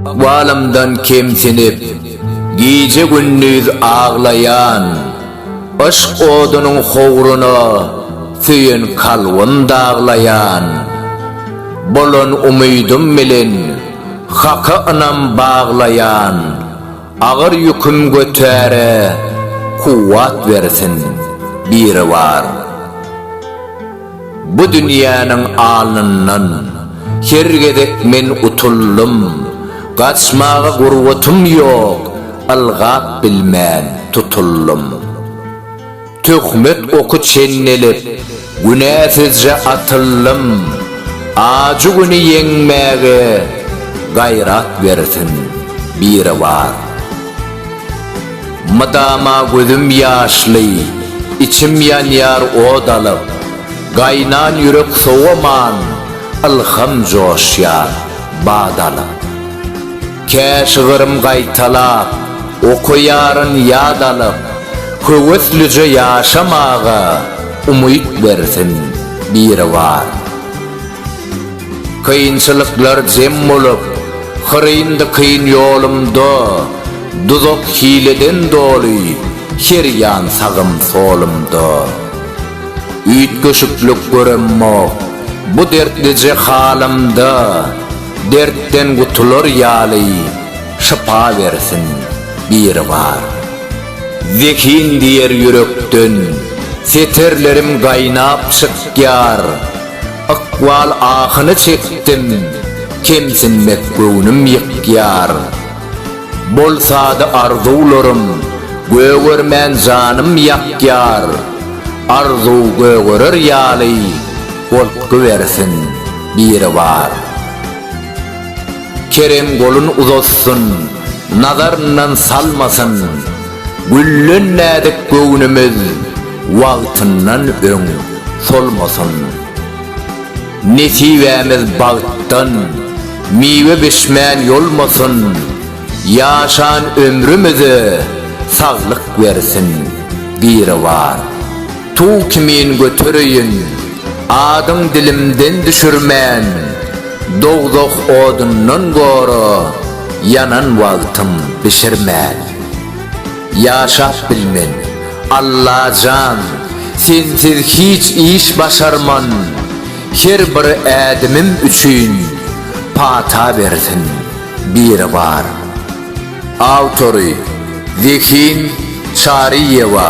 Ykbalymdan kemsinip, gije-gündiz aglaýan, Yşk odunyň howruna söýen kalbym daglaýan. Bolan umydym bilen Haka ynam baglaýan, Agyr ýüküm götärä kuwwat bersin Biribar. Bu dünýäniň alnyndan Her gezek men utuldym. Gaçmaga gurbatym ýok, Ylgap bilmän tutuldym. Töhmet oky çenelip, Günäsizje atyldym. Ajy güni ýeňmäge Gaýrat bersin Biribar. Mydama gözüm ýaşly, içim ýanýar ot alyp, Gaýnan ýürek sowaman, ylham joşýar bat alyp. Kä şygrym gaýtalap, okaýaryn ýat alyp, Höweslije ýaşamaga umyt bersin Biribar. Kynçylyklar jem bolup, hyryndy kyn ýolumda, Duzak hileden doly, her ýan sagym solumda. Üýtgeşiklik göremok, bu dertlije halymda, Dertden gutular ýaly, şypa bersin Biribar. Zehin diýer ýürekden, setirlerim gaýnap çykýar. Ykbal ahyny çekdim, kemsinmek göwnüm ýykýar. Bolsady arzuwlarym, gögermän janym ýakýar. Arzuw gögerer ýaly, goltgy bersin Biribar. Kerem golun uzatsyn, nazaryndan salmasyn. Güllen näzik göwnümiz wagtyndan öň solmasyn. Nesibämiz bagtdan miwe bişmän ýolmasyn. Ýaşan ömrümize saglyk bersin Biribar. Tug kimin götereýin adyň dilimden düşürmän Dowzah odundan gora ýanan wagtym bişirmän Ýaşap bilmen Alla jan sensiz hiç iş başarman Her bir ädimim üçin pata bersin Biribar. Awtory, Zehin Çaryýewa,